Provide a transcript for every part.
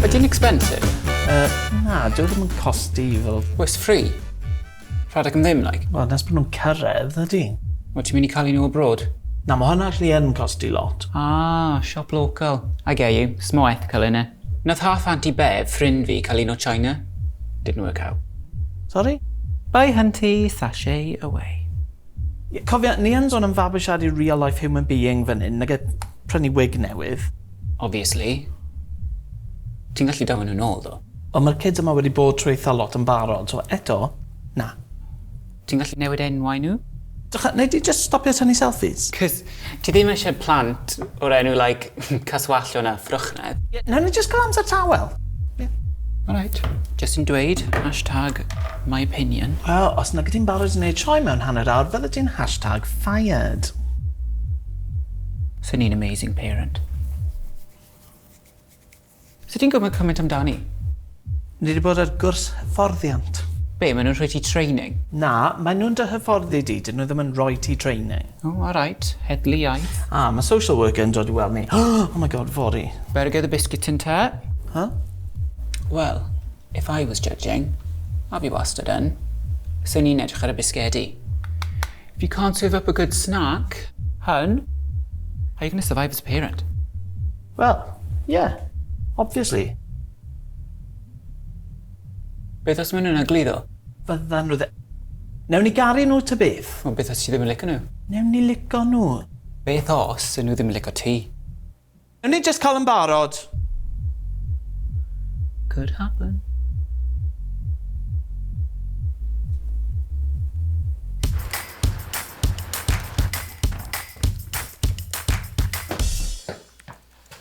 Ydy'n expensive? Yy, na, dyw e ddim yn costi fel... Well, it's free. Rhedeg am ddim, like. Wel, nes bod nhw'n cyrraedd, ydy. Wel, ti'n mynd i cael un o abroad? Na, mae hwnna allu yn costi lot. Ah, siop local. I get you. It's more ethical, innit? Nath half auntie Bev, ffrind fi, cael un o China. Didn't work out. Sori? Bye hunty, sashay away. Ie, cofia, ni yn son am fabwysiadu real life human being fan hyn, nage prynu wig newydd. Obviously. Ti'n gallu daflu nhw nôl ddo. Ond ma'r kids yma wedi bod trwy eitha lot yn barod, so eto, na. Ti'n gallu newid enwau nhw? Drycha, nei di jyst stopio tynnu selfies? Cos ti ddim eisiau plant o'r enw like Caswallon a Ffrwchnedd. Ie, nawn ni jyst cael amser tawel. Ie. Alright. Jyst yn dweud, hashtag my opinion. Wel, os nagyt ti'n barod i neud sioe mewn hanner awr, fyddet ti'n hashtag fired. Swn i'n amazing parent. Sut ti'n gwybod cymaint amdani? Ni 'di bod ar gwrs hyfforddiant. Be, maen nhw'n rhoi ti training? Na, maen nhw'n dy hyfforddi di, dyn nhw ddim yn rhoi ti training. O, alright. Heddlu iaith. Ah, mae social worker yn dod i weld ni. Oh my god, fory. Better get the biscuit tin ta. Huh? Wel, if I was judging, a fi wastad yn, swn i'n edrych ar y bisgedi. If you can't serve up a good snack, hun, how are you going to survive as a parent? Wel, ie. Obviously. Beth os ma' nhw'n egluro? Fyddan nhw ddi-. Newn ni garu nhw ta beth. Wel beth os ti ddim yn lico nhw? Newn ni lico nhw. Beth os 'dyn nhw ddim yn lico ti? Newn ni jyst cael yn barod. Could happen.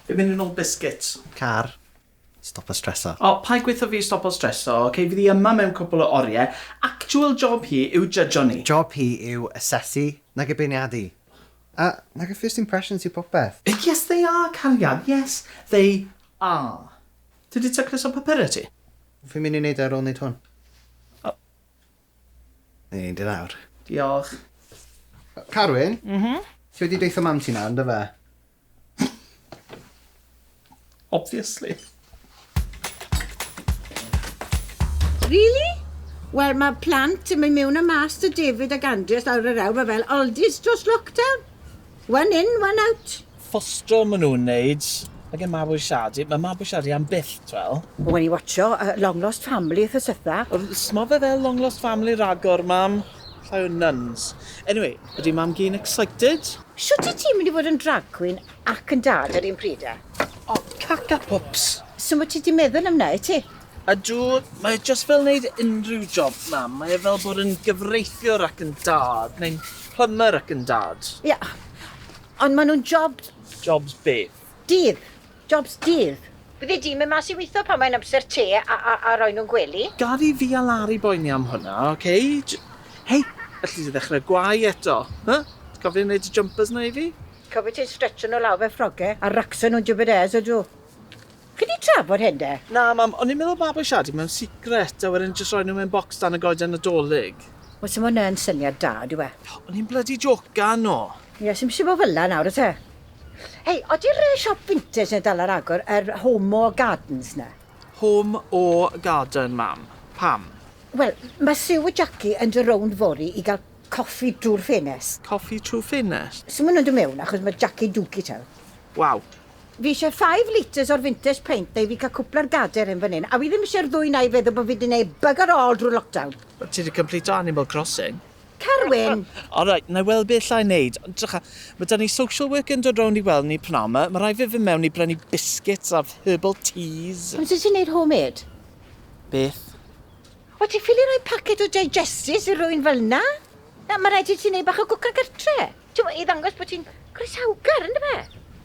Fi'n mynd i nôl biscuits. Car, stopo streso. O, paid gweutho fi stopo streso, ok? Fydd hi yma mewn cwpl o orie. Actual job hi yw jydjo ni. Job hi yw asesu, nage beirniadu. A, nage first impressions yw popeth. Yes they are, cariad, yes they are. Ti 'di tacluso papura ti? Fi'n mynd i neud e ar ôl neud hwn. Ni'n mynd i lawr. Diolch. Carwyn? M-hm? Ti wedi deutha mam ti nawr, yndyfe? Obviously. Really? Wel, mae plant yn mynd mewn a mas 'da David ac Andreas lawr yr hewl, mae fel oldies dros lockdown. One in, one out. Fostro ma nhw'n neud ag e mabwysiadu. Mae mabwysiadu am byth, t'wel. Wen i watsio yy Long Lost Family wthnos dwetha. Wel sma fe fel Long Lost Family ragor mam, llai o nuns. Anyway, ydi mam gi'n excited? Shwt wyt ti'n mynd i fod yn drag queen ac yn dad yr un pryd a? O, cac a pwps. So ma ti di meddwl am na wyt ti? Ydw, mae e jyst fel neud unrhyw job mam, mae e fel bod yn gyfreithiwr ac yn dad, neu'n plumber ac yn dad. Ie, Ond maen nhw'n jobs. Jobs beth? Dydd. Jobs dydd. Fyddi di'n mynd mas i weithio pan mae'n amser te a, a, a roi nhw'n gwely? Gad i fi a Lari boeni am hwnna, ok? J-. Hei! Alli di ddechrau gwau eto? Huh? Ti'n cofio wneud y jympyrs 'na i fi? Cofio ti'n stretsio nhw lawr fel ffrogau a racsio nhw'n jubedêrs, ydw. Chi 'di trafod hyn 'de? Na mam, o'n i'n meddwl mabwysiadu mewn secret a wedyn jyst roi nhw mewn bocs dan y goeden Nadolig. Wel 'se fo'n yn syniad da dyw e? O'n i'n blydi jocan o! Ie, sim isie bo fel'na nawr o's e? Hei, odi'r yy siop fintage 'ne dal ar agor, yr Home Or Gardens 'ne? Home Or Garden mam. Pam? Wel, ma' Sue a Jackie yn do' rownd fory i ga'l Coffi drwy'r ffenest. Coffi trwy ffenest. Sut ma nhw'n dod mewn achos ma Jackie Dookie tawr. Waw. Fi eisiau five litres o'r vintage paint dau fi cael cwpl ar gader hyn fan hyn a fi ddim eisiau'r ddwy nai feddwl bod fi di neud bugger all drwy'r lockdown. Wel ti di cymplito Animal Crossing. Carwyn! Alright, na i weld be allai neud. Ond drycha, ma da ni social worker yn dod rownd i weld ni pnawn ma. Ma rhaid fi fynd mewn i brynu biscuits a herbal teas. Ond sut ti'n neud home-made? Beth? Wyt ti'n ffili rhoi paced o Digesties i rywun fel 'na? Na, mae rhaid i ti wneud bach o gwcan gartre. Timod, i ddangos bod ti'n groesawgar, yn dyfe?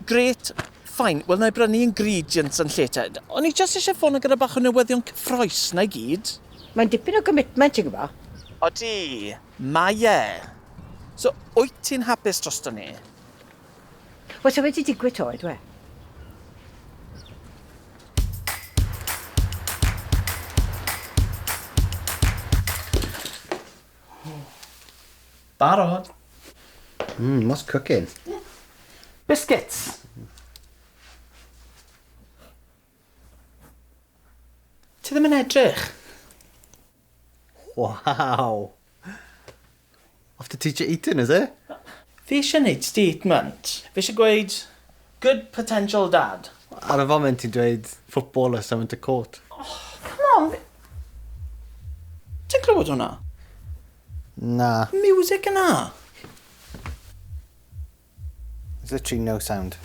Grêt, fine, wel 'na i brynu ingredients yn lle te. O'n i jyst isie ffono gyda bach o newyddion cyffrous, 'na i gyd. Mae'n dipyn o gommitment, ti'n gwybod. Odi, mae e. So, wyt ti'n hapus drosto ni? Wel, sa wedi digwydd to, ydw e? Barod! Mmm, what's cooking? Biscuits! Ti ddim yn edrych. Waw! Off the teacher eating, is it? Fi eisiau neud statement. Fi eisiau gweud good potential dad. Ar y foment ti'n dweud footballer sent to court. Oh, come on! Fi... Ti'n clywed hwnna? Na. Music yna! There's literally no sound.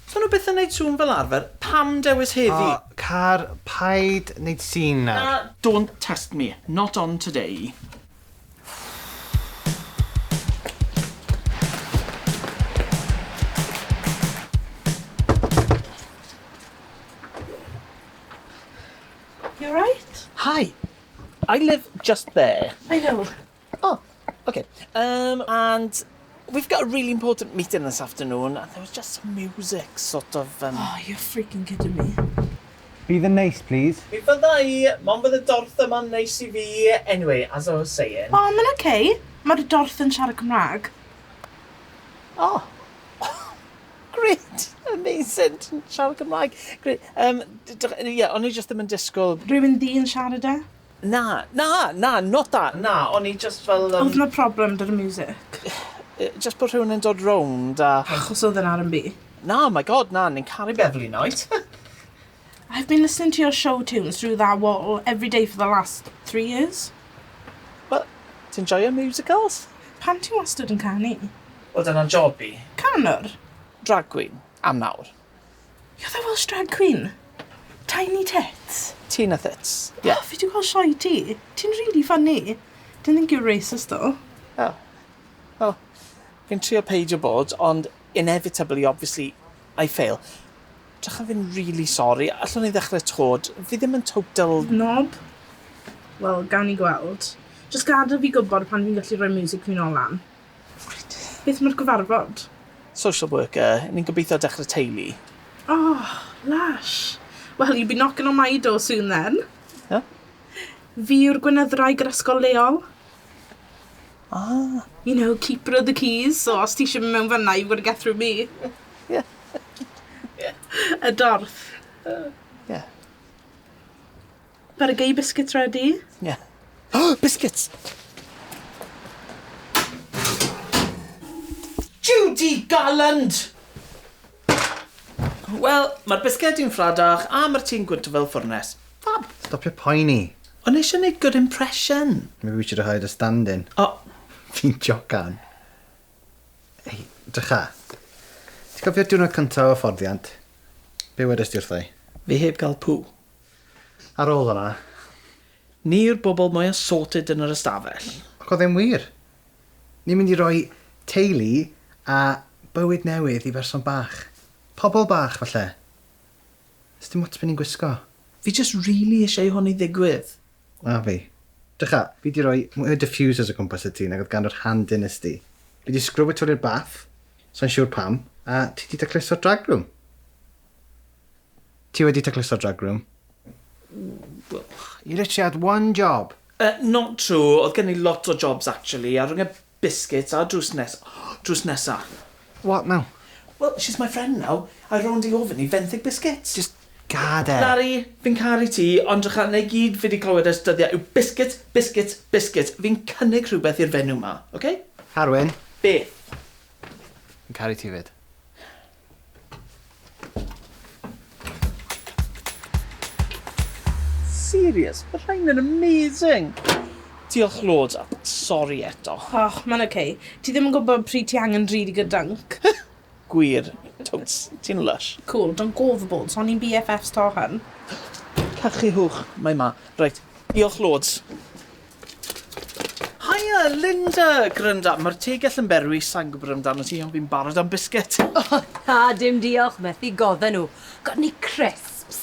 Os ma nhw byth yn neud sŵn fel arfer, pam dewis heddi? O, car, paid neud sîn nawr. Na, don't test me. Not on today. You alright? Hi. I live just there. I know. Oh, okay. Um, and we've got a really important meeting this afternoon, and there was just some music, sort of... Um... Oh, you're freaking kidding me. Be the nice, please. Mi fydda i, mond bydd y dorth yma'n neis i fi. Anyway, as I was saying... Oh, mae'n okay. Mae'r dorth yn siarad Cymraeg. Oh. Great! Amazing! Ti'n siarad Cymraeg. Great. Um, yeah, o'n i just ddim yn disgwyl... Rwy'n dyn siarad e. Na, na, na, not that, na, o'n i jyst fel yym... Odd 'na problem 'da'r miwsic? Jyst bod rhywun yn dod rownd a... Achos odd e'n R&B? Na, my God, na, ni'n caru Beverley Knight! I've been listening to your show tunes through that wall every day for the last three years. Wel, ti'n joio musicals? Pam ti wastad yn canu? Wel dyna'n job i. Canwr? Drag queen, am nawr. You're the Welsh drag queen. Tiny tits. Tina Thits. Ie. O fi 'di gweld sioe ti. Ti'n rili ffyni. Didn't think you were racist though. O. Wel, fi'n trio peidio bod ond inevitably obviously I fail. Drycha fi'n rili sori. Allwn ni ddechre 'to? D- fi ddim yn total... Nob? Wel, gawn ni gweld. Jyst gadel fi gwbod pan fi'n gallu rhoi miwsig fi nôl lan. Reit, beth am yr gyfarfod? Social worker, ni'n gobeithio dechrau teulu. Oh, lush. Well, you'll be knocking on my door soon then. Ia? Fi yw'r gweinyddraig yr ysgol leol. Ah. You know, keeper of the keys, so os ti eisiau mynd mewn fanna, you've got to get through me. Ie. Y dorth. Ie. Ar y gei biscuits ready? Ie. Yeah. biscuits! Judy Garland! Wel, mae'r bisged i'n ffradach a mae'r ti'n gwynt fel ffwrnes. Fab! Stop your poeni. O'n eisiau gwneud good impression. Maybe we should have hired a stand-in. O! Oh. Fi'n jocan. Ei, drycha. Ti'n cofio diwrnod cyntaf o fforddiant? Be wedes di wrthau? Fi heb gael pŵ. Ar ôl hwnna. Ni yw'r bobl mwya sorted yn yr ystafell. Ac oedd e'n wir. Ni'n mynd i roi teulu a bywyd newydd i berson bach. Pobl bach, falle. Does dim ots be ni'n gwisgo. Fi jyst rili isie i hwn i ddigwydd. A fi. Drycha, fi 'di roi mwy o diffusers o gwmpas y tŷ nag oedd gan yr han dynasty. Fi 'di sgrwbio twli'r bath, sai'n siwr pam, a ti 'di tacluso'r drag room. Ti wedi tacluso'r drag room? You literally had one job. Uh, not true, oedd gen i lot o jobs actually, a rhwng y biscuits a drws nes- drws nesa. What now? Well, she's my friend now, I rownd i ofyn i fenthyg biscuits. Just gad e. Larry, fi'n caru ti, ond drycha na i gyd fi di clywed ers dyddia yw biscuits, biscuits, biscuits. Fi'n cynnig rhywbeth i'r fenyw ma, ok? Harwyn. Be? Fi'n caru ti fyd. Serious? Mae rhain yn amazing! Diolch loads a sori eto. Och, mae'n oce. Ti ddim yn gwybod pryd ti angen drud i gyda dunk. Gwir. Totes, ti'n lush. Cool, don't go overboard, so ni'n BFFs to hun. Cachu hwch, mae ma. Reit, diolch loads. Haia, Linda! Granda, mae'r tegell yn berwi, sai'n gwybod amdano ti, ond fi'n barod am bisged. O, na, dim diolch, methu godda nhw. Got any crisps?